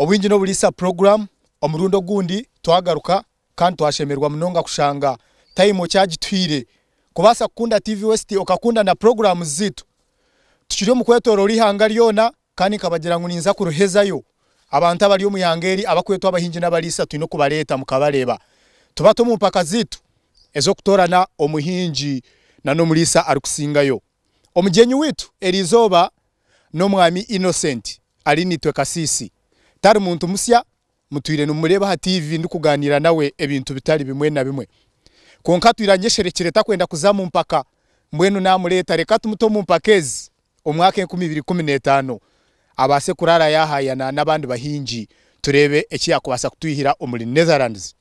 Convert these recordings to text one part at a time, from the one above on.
Obwingi n'oburiisa puroguramu omurundi ogundi twagaruka kandi twashemererwa munonga kushanga tayimu okyagituhaire kubaasa kukunda TV West okakunda na puroguramuzi zaitu. Tukiri omu kwetoroora eihanga ryona. Kandi nkabagira ngu ninza kuruhezayo. Abantu abari omu ihanga eri abakwetwa abahingi n'abariisa twine kubareeta mukabareeba. Tubate omu mpaka zaitu ez'okutoorana omuhingi na n'omuriisa arikusingayo. Omugyenyi waitu eri izooba n'Omwami Innocent ari naitwe Kasiisi. Tari muntu musya, mutwire nimumureeba aha tiivi ndikugaaniira nawe ebintu bitari bimwe na bimwe. Kwonka atwire anyesherekire takwenda kuza mu mpaka. Mbwenu naamureeta reka tumute omu mpaka ezi. omwaka enkumi ibiri ikumi n'etaano abaase kuraara yaahaayana n'abandi bahingi tureebe eki yaakubaasa kutwihira omuri Netherlands.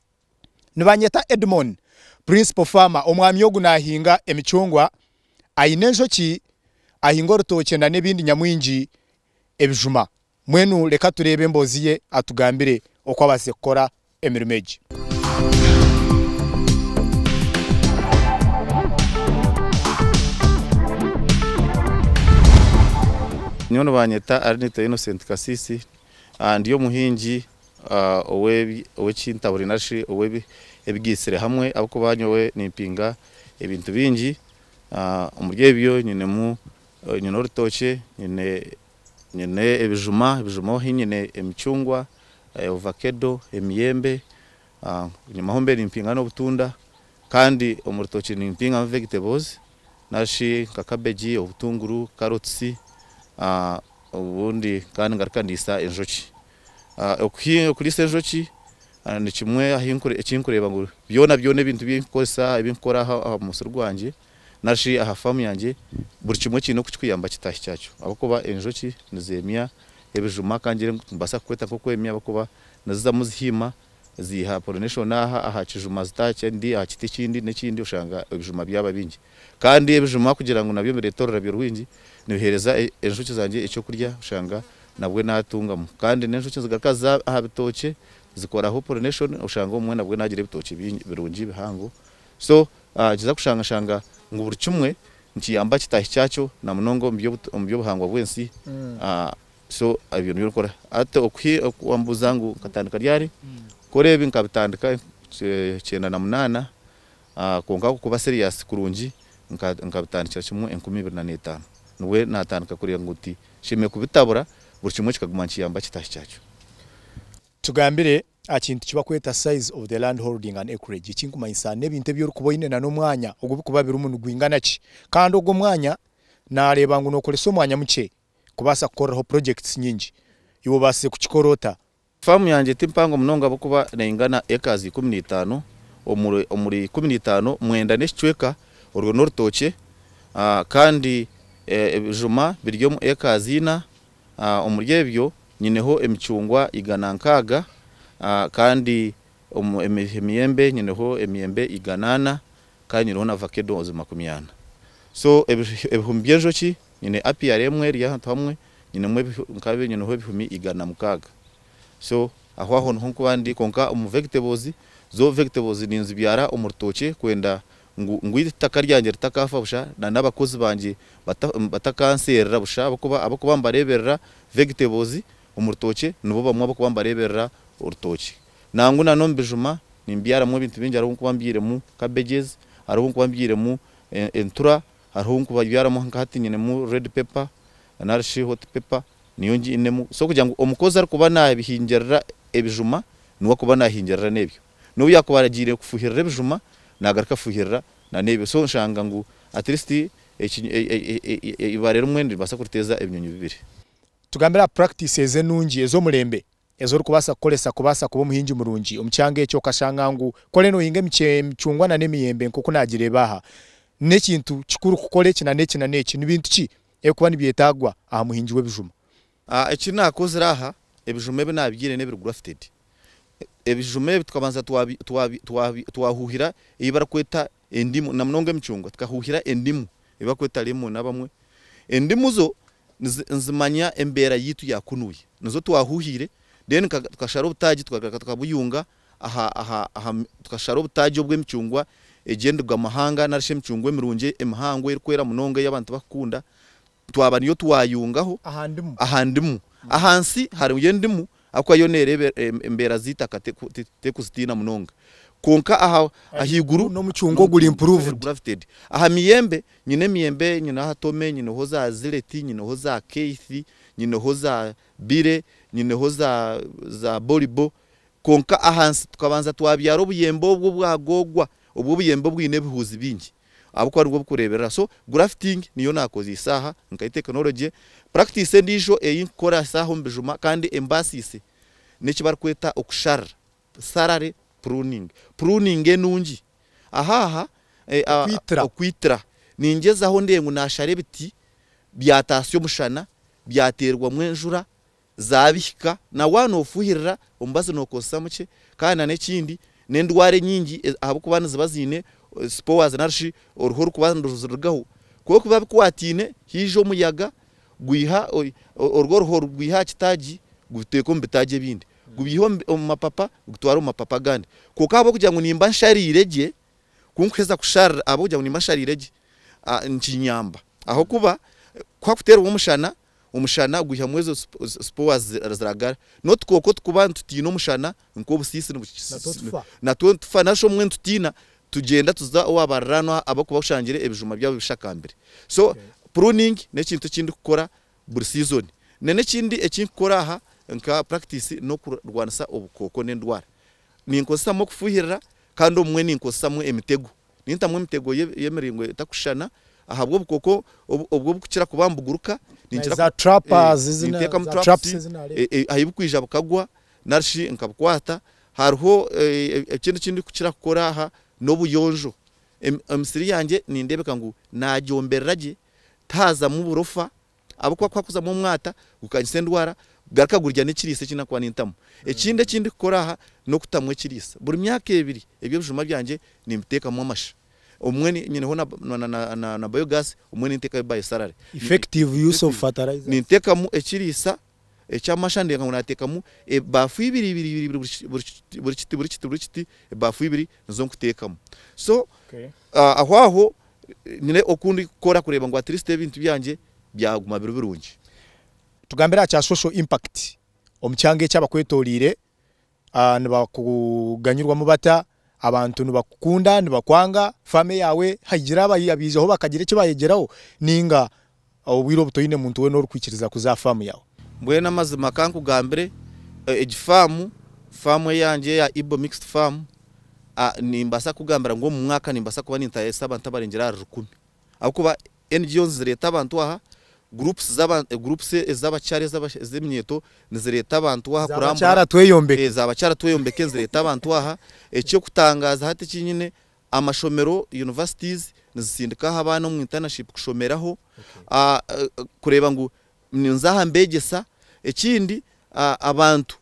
Nibanyeta Edmon, Principal Farmer, omwami ogu naahinga emicungwa, aine enjoki, ahinga orutookye nana ebindi nyamwingi ebijuma. Mbwenu reka tureebe emboozi ye atugambire oku abaasize kukora emirimo egi. Nyowe nibanyeta Arnitho Innocent Kasisi, ndi omuhingi ow'ekintaburi nari shi ow'ebigaitsire hamwe ahabw'okuba nyowe nimpinga ebintu bingi. Omuri ebyo nyinemu, nyine orutookye, nyine Nyine ebijuma, ebijuma ohi nyine emicungwa, ovakedo, emiyembe, enyima ahu mbe nimpinga n'obutunda kandi omu rutookye nimpingamu vegetables nari shi nka kabegi, obutunguru, carrots, obundi kandi ngaruka ndiisa enjoki. Okuriisa enjoki nikimwe eki nkureeba ngu byona byona ebintu ebi nkukoresa, ebi nkukora aha musiri gwangye na shi aha faamu yangye, buri kimwe kiine oku kirikuyamba kitaahi kyakyo ahabw'okuba enjoki nizeemya ebijuma ka ngyire ngu nimbaasa kukweta nk'okwemya ahabw'okuba nizizamu zihiima ziiha pollination aha aha kijuma zita aha kindi aha kiti ekindi n'ekindi oshanga ebijuma byaba bingi. Kandi ebijuma kugira ngu nabyo bireete orurabyo rwingi nibiheereza enjoki zangye eky'okurya oshanga nabwe naatungamu. Kandi n'enjoki nizigaruka ziza aha bitookye zikoraho pollination oshanga obumwe nabwe naagira ebitookye birungi bihango So kiza kushanga shanga ngu buri kimwe nikiyamba kitaahi kyakyo na munonga omu by'obuhangwa bw'ensi. So ebyo nibyo ndikora. Hati oku wambuuza ngu nkatandika ryari, kukora ebi nkabitandika kyenda na munaana kwonka kuba serious kurungi nkabitandikira kimwe enkumi ibiri na n'etaano. Nibwo naatandika kureeba ngu tinshemereire kubitabura buri kimwe kikaguma nikiyamba kitaahi kyakyo. Tugambire Aha kintu ki bakweta size of the land holding and acreage, eki nikumanyisa n'ebintu ebi orikuba oine na n'omwanya ogu bikuba birimu nigwingana ki. Kandi ogwo omwanya naareeba ngu nookoresa omwanya mukye kubaasa kukoreraho projects nyingi. Iwe obaasize kukikora ota? Faamu yangye ti mpango munonga ahabw'okuba neingana acres ikumi na itaano. Omuri omuri ikumi na itaano, mwenda n'ekicweka orwo n'orutookye. Kandi ebijuma biri omu acres ina. Omuri ebyo nyineho emicungwa igana nkaaga, kandi omu emiyembe nyineho emiyembe igana ana, kandi nyineho na vakedo ozi makumi ana. So ebihumi by'enjoki, nyine apiary emwe eri ahantu hamwe, nyinemu nkabi nyineho ebihumi igana mukaaga. So aho aho niho nkuba ndi, kwonka omu vegetables, zo vegetables ninzibyara omu rutookye kwenda ngu ngu iri itaka ryangye ritakaafa busha, na n'abakozi bangye bata batakanseerera busha, ahabw'okuba ahabw'okuba mbareeberera, vegetables, omu rutookye, nibo bamwe ab'okuba mbareeberera orutookye. Nangwa na n'omu bijuma nimbyaramu ebintu bingi, hariho obu nkuba mbyiremu cabbages, hariho obu nkuba mbyiremu e entura, hariho obu nkuba byaramu nka hati nyinemu red pepper nari shi hot pepper niyo nginemu, so kugira ngu omukozi arikuba naabihingirira ebijuma niwe akuba naahingirira n'ebyo. N'obu yaakuba aragiire kufuhirira ebijuma, naagaruka kufuhirira n'ebyo. So oshanga ngu at least eibare rimwe niribaasa kuriteeza ebinyonyi bibiri. Tugambire aha practices enungi ez'omurembe ezi orikubaasa kukoresa kubaasa kuba omuhingi murungi omu kyanga ekyo. Okashanga ngu ku oriyo noohinga emicungwa n'emiyembe nk'oku naagireeba aha, n'ekintu kikuru kukora eki n'eki n'eki. Ni bintu ki ebirikuba nibyetaagwa aha muhingi w'ebijuma? Eki naakozire aha, ebijuma ebi naabigyeire n'ebiri grafted. Ebijuma ebi tukabanza twahuuhira ei barikweta endimu, na munonga emicungwa tukahuuhira endimu ei barikweta lemon abamwe. Endimu zo nizimanya embeera yaitu ya kunuya. Nizo twahuuhire then tukashara obutaagi tukagaruka tukabuyunga tukashara obutaagi obw'emicungwa egy'endigo amahanga nari shi emicungwa emirungi emihango erikwera munonga ei abantu barikukunda. twaba niyo twayungaho aha ndimu ahansi hariyo endimu ahakuba yo nereeba embeera z'eitaka tekuzitiina munonga kwonka ahaiguru aha miyembe nyine emiyembe nyine aha tome nyineho za zileti nyineho za keithi nyineho za bile nyineho za bolibo kwonka ahansi tukabanza twabyaara obuyembe obwo obwagoogwa obwo obuyembe obwine ebihuuzi bingi. ahabw'okuba nibwo burikureeberera. So grafting niyo naakozeisa aha nkayo tekinologye. Practice endiijo ei nkukoresa aha omu bijuma kandi embaasiise n'eki barikweta okusharira, salary pruning. Pruning enungi aha aha, okwitira. Ningyezaho ndebe ngu naashara ebiti byataasya omushana, byateerwamu enjura, zaabihika na waaba noofuhirira omubazi nookozesa mukye kandi nana ekindi n'endwara enyingi ahabw'okuba niziba ziine spores nari shi oruhu orurikuba niruzirugaho kwonka ku biba bikwataine haija omuyaga gwiha orwo oruho rugwiha aha kitaagi gubiteeka omu bitaagi ebindi gubyiha omu mapapa gutware omu mapapa agandi kwonka ahabw'okugira ngu nimba nshariire gye ku nkuheeza kusharira ahabw'okugira ngu nimba nshariire gye nikinyamba ahabw'okuba ku hakuteerwa omushana Omushana gwihamu ezo spores ziragara. N'otukooko otukuba nitutiina omushana nk'obusiisi natwo nitufa nari shi obumwe nitutiina tugyenda tuza owa bariraanwa abarikuba bashangire ebijuma byabo bishakambire. So pruning n'ekintu eki ndikukora buri season. N'ekindi eki nkukora aha nka practice n'okurwanisa obukooko n'endwara. Ninkozesamu okufuhirira kandi obumwe ninkozesamu emitego. Nintamu emitego y'emiringo etakushushana ahabw'obukoko obu obukukira kuba nibuguruka, ninteekamu traps ahi bukwija bukagwa nari shi nkabukwata. Hariho ekindi eki ndikukira kukora aha n'obuyonjo. Emisiri yangye nindeebeka ngu naagyomberera gye, tihaazamu burofa Ahabw'okuba ku hakuzamu omwata gukanyisa endwara, garuka gurya n'ekiriisa eki nakuba nintamu. Ekindi eki ndikukora aha n'okutamu ekiriisa. Buri myaka ebiri eby'ebijuma byangye nimbiteekamu amasha. Obumwe nyineho na na na biogas, obumwe ninteekayo biosalary. Effective use of fertilizer. Ninteekamu ekiriisa Eky'amasha ndeeba ngu naateekamu ebaafu ibiri ibiri ibiri ibiri buri buri kiti buri kiti buri kiti buri kiti ebaafu ibiri nizo nkuteekamu. So aho aho nyine oku ndikukora kureeba ngu atiristi ebintu byangye byaguma biri birungi. Tugambire aha kya social impact omu kyanga eki abakwetooriire. Nibakuganyirwamu bata? Abantu nibakukunda, nibakwanga, faamire yaawe hagira abaijaho bakagira eki baayegyeraho nainga obwire obu toine muntu weena orikwikiriza kuza aha faamu yaawe? Mbwenu amazima ka nkugambire, egi faamu, faamu eyangye eya Ibo Mixed Farm, nimbaasa kukugambira ngu omu mwaka nimbaasa kuba nintayaisa abantu abarengyera ahari rukumi ahabw'okuba NGOs zireeta abantu aha, groups z'aba groups ez'abakyara ez'aba ez'eminyeeto nizireeta abantu aha kurambura, Zaabakyara tweyombeke. Zaabakyara tweyombeke nizireeta abantu aha, eky'okutangaaza hati eki nyine, amashomero, universities, nizisindikaaho abaana omu internaship kushomeraho, kureeba ngu ninza aha mbeegyesa, ekindi abantu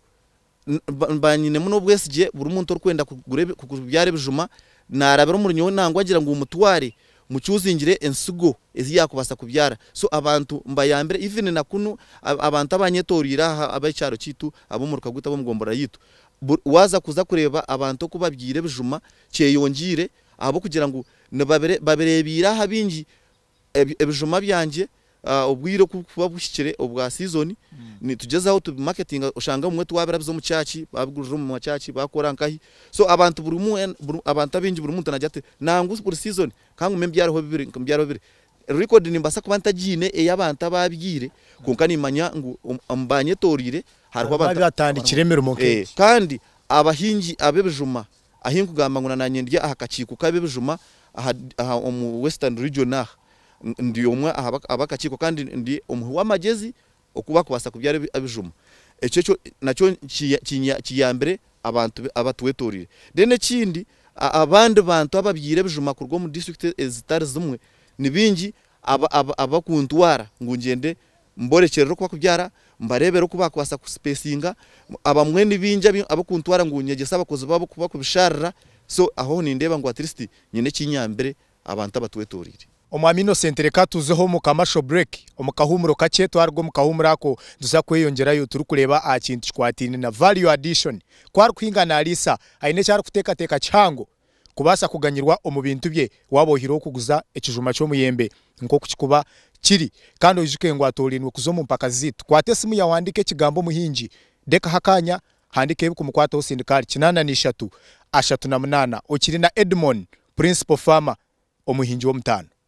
Nimba nyinemu n'obwesigye buri muntu orikwenda kubyara ebijuma naarabira omuri nyowe nangwa agira ngu mutware mucuuzingire ensigo ezi yaakubaasa kubyara. So abantu mbayambire even na kunu abantu abanyetoreire aha ab'ekyaro kyaitu ab'omuruka gwaitu ab'omu gomborora yaitu waaza kuza kureeba abantu oku babyaire ebijuma kyeyongiire ahabw'okugira ngu nibabireebaire aha bingi Ebijuma byangye obwire oku burikuba buhikire obwa siizoni, nitugyezaho tubimaketinga. Oshange obumwe twabirabiza omu kyaaci, baabiguriza omu makyaaci, baakora nkahi. So abantu buri omwe wena, abantu abaingi buri muntu naagira ati nangwa buri siizoni ka ngume mbyariho bibiri, mbyariho bibiri. Record nimbaasa kuba ntagiine ey'abantu abaabyaire, kwonka nimmanya ngu omu baanyetoroire hariho abantu abaatandikire emirimo nk'egi. Kandi abahingi ab'ebijuma Ahi nkugamba ngu na nanye ndi aha kakiiko ka ab'ebijuma aha aha omu Western Region aha, ndi omwe aha aba kakiiko kandi ndi omuhi w'amagyezi oku bakubaasa kubyara ebijuma. Ekyo ekyo nakyo kinya kiyambire abantu abatwetoreire. Then ekindi abandi bantu ababyaire ebijuma kuruga omu district ezitari zimwe ni bingi aba aba abakuntwara ngu ngyende Mborekyerere oku bakubyara, mbareebere oku baakubaasa kusipeesinga. Abamwe ni baingi ab'okuntwara ngu nyegyese abakozi baabo oku bakubishaarira. So ahoho nindeeba ngu atiristi nyine eki nyambire abantu abatwetooreire. Omwami Innocent, Reka tuzeho omu commercial break, omu kahuumuro kakye. Twaruga omu kahuumuro ako, nituza kweyongyerayo turikureeba aha kintu kikwataine na value addition. Ku arikuhinga naariisa, aine eki arikuteekateeka kihango. kubaasa kuganyirwa omu bintu bye waaba oihireho kuguza ekijuma ky'omuyembe nk'oku kikuba kiri. Kandi oijuke ngu atoorainwe kuza omu mpaka zaitu. Kwata esimu yaawe ohandiike ekigambo Muhingi. Rekaho akaanya, handiika ebikumukwataho osindike ahari kinaana na ishatu, ashatu na munaana. Okiri na Edmon, Principal Farmer, Omuhingi w'Omutaano.